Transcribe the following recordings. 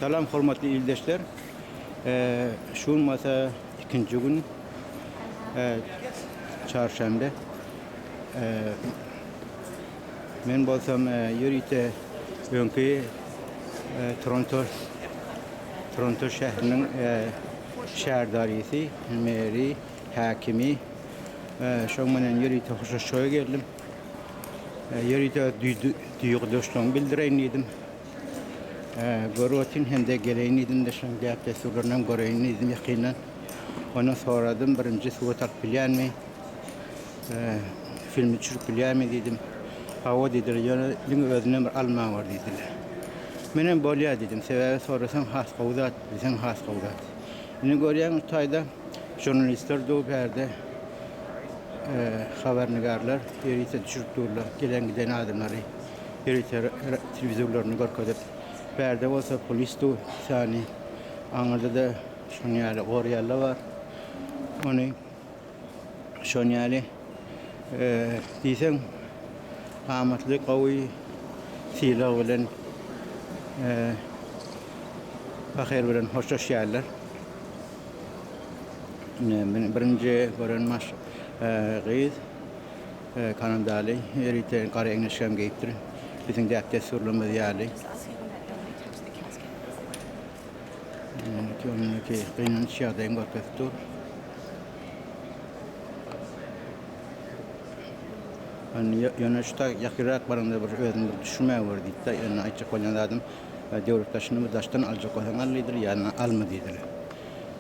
Salam hormatly ildeşler. Şu gün bolsa ikinji gün çarşenbe. Men bolsam ýörite öňki Toronto Toronto şähriniň şäherdarysy, meri, häkimi şoň menen ýörite hoşlaşmaga geldim. Ýörite duýgudaşlygymy bildireýin diýdim. Görüp otyryn hem-de geleýin diýdim-de, şonuň däp-dessurlaryny göreýin diýdim ýakyndan. Ondan soradym, birinji surat alyp bilýänmi, filmi düşürip bilýänmi diýdim. Hawa diýdiler, ýöne diňe özünden bir alma bar diýdiler. Menem bolýar diýdim, sebäbi sorasaň has gowy zat, bilseň has gowy zat. Indi görýäň bu taýda žurnalistler dur bärde, habarnigarlar ýörite düşürip durlar gelen-giden adamlary. Ýörite telewizorlaryny görkezip, bärde bolsa polisdu sany aňyrda-da şoň ýaly gorýalla bar. Ony şon ýaly diýseň amatly gowy sylag bilen pahyr bilen hoşlaşýarlar. Birinji gören gyz. Kanadaly elite gara eňeşgämi geýipdir. Biziň däp-dessurlarymyz ýaly. Indiki onuňki gynanç ýagdaýyny görkezip dur. Ýöne şu tag ýakynrak baranda bir özüni bir düşünmän gör diýdi-de, ýöne aýtjak bolýan zadym, döwlet daşyny bir daşdan aljak bolsaň al diýdiler, ýa-da alma diýdiler.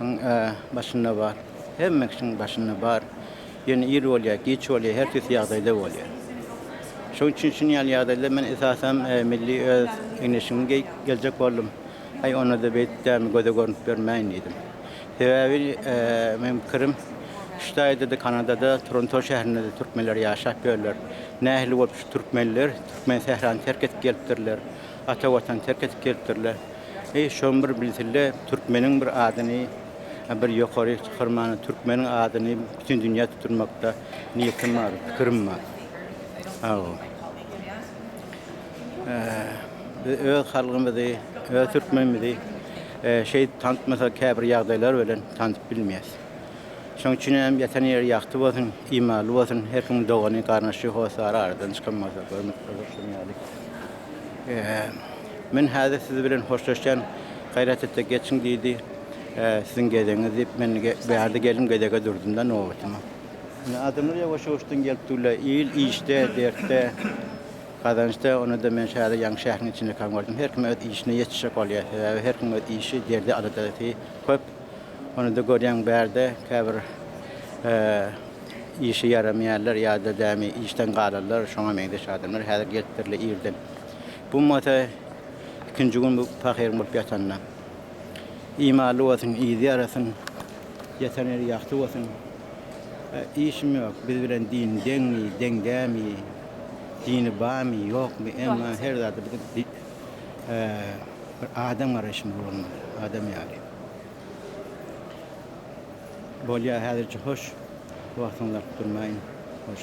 Iň e, başynda bar. Hemme kişiň başynda bar. Ýöne ir bolýar, giç bolýar, her tüýs ýagdaýda bolýar. Şoň üçin şun ýaly ýagdaýda men esasan e, milli öz egin-eşigimi geýip geljek boldum. Aý, onda-da beýdip dämi göze görnüp ýörmäýin diýdim. Sebäbi e, meniň pikirim, Ştaýda-da, Kanadada, Toronto şäherinde-de türkmenler ýaşap ýörler. Nähili bolup şu türkmenler türkmen sährasyny terk edip gelipdirler? Ata watan terk edip gelipdirler. Eý şony bir bilsille türkmeniň bir adyny bir ýokary çykarmana türkmeniň adyny bütin dünýä tutdurmakda niýetim bar pikirim bar. Sagbol. Biz öz halgymyzy öz türkmenimizi şeýdip tanitmasak käbir ýagdaýlar bilen tanyp bilmeýäs. Şoň üçin hem ýatan ýeri ýagty bolsun imanly bolsun her kimiň dogany garnaşy hossary aradan çykan bolsa görmekde bolsun ýaly. Men häzir siz bilen hoşlaşýan, gaýrat etse geçiň diýdi. Siziň gezegiňiz diýip, men bärde geldim, gezege durdum-da nobatyma. Indi adamlar ýawaş-ýawaşdan gelip durlar. Il işde, dertde, gazançda. Onda-da men häzir ýaňy şäheriň içinde kaň gördüm. Her kim öz işine ýetişjek bolýar. Sebäbi her kimiň öz işi, derdi, aladasy köp. Onda görýäň bärde käbir işe ýaramaýarlar ýa-da dämi işden galanlar, şoňa meňzeş adamlar häzir gelip birle irden. Bu mata ikinji gün bu pahyryň bolup ýatanyna. Imaly bolsun, yzy ýarasyn, ýatan ýeri ýagty bolsun. Işim ýok, biz bilen din deňmi, deň dämi, dini barmy, ýokmy, emma her zada biziň bir adam garaýşymyz bolmaly, adam ýaly. Bolýar häzirçe hoş. Wagtyňyzy alyp durmaýyn. Hoş.